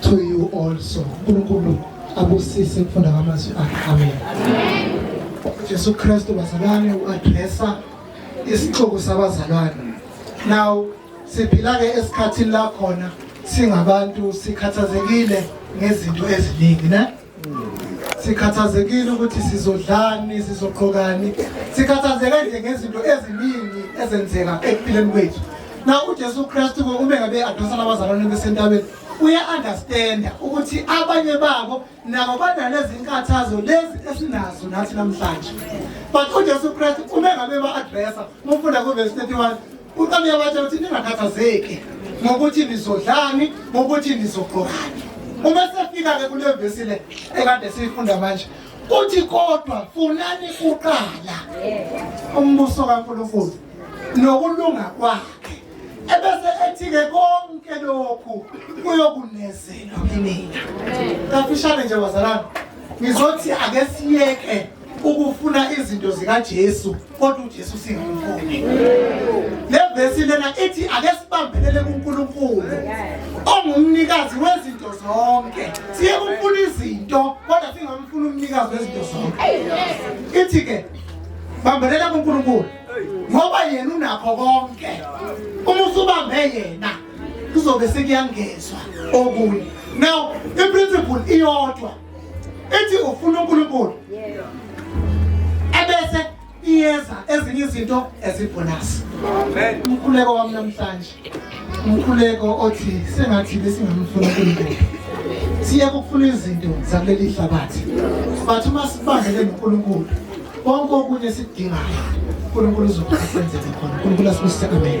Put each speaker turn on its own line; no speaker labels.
to you also uNkulunkulu abusise ukufunda kwamazwi akhe amen Jesu Kristu bazalwane uaddressa isixuku sabazalwane now siphila ke esikhathini la khona singabantu sikhathazekile ngezinto eziningi ne sikhathazekile ukuthi sizodlani sizoqhokani sikhathazeke nje ngezinto eziningi ezenzeka ekuphileni kwethu na uJesu Kristu uma ngabe adosa labazalwane besentabeni uya-understanda ukuthi abanye babo nabo banalezi nkathazo lezi esinazo nathi namhlanje but ujesu kristu uma ngabe ba-adressa umfunda kuvesi 31 Uqala uyabatshela ukuthi ningakhathazeki ngokuthi nizodlani, ngokuthi nizogqokani. Uma sefika-ke kule vesi le ekade siyifunda manje uthi kodwa funani kuqala umbuso kaNkulunkulu nokulunga kwakhe ebese ethi-ke konke lokhu kuyokunezelwa kinina kafishane nje bazalana ngizothi ake siyeke ukufuna izinto zikaJesu kodwa uJesu singamfuni levesi lena ithi ake sibambelele kuNkulunkulu ongumnikazi wezinto zonke siye kumfuna izinto kodwa singamfuni umnikazi wezinto zonke ithi ke bambelela kuNkulunkulu ngoba yena unakho konke uma usubambe yena kuzobe sekuyangezwa okunye now iprinciple iyodwa ithi ufuna uNkulunkulu ebese iyeza ezinye izinto ezibonus umkhuleko wami namhlanje umkhuleko othi sengathi besingamfuna uNkulunkulu siye kufuna izinto zakuleli hlabathi but uma sibambele noNkulunkulu konke okunye sidingayo uNkulunkulu uzokusenzela khona uNkulunkulu asibusise amen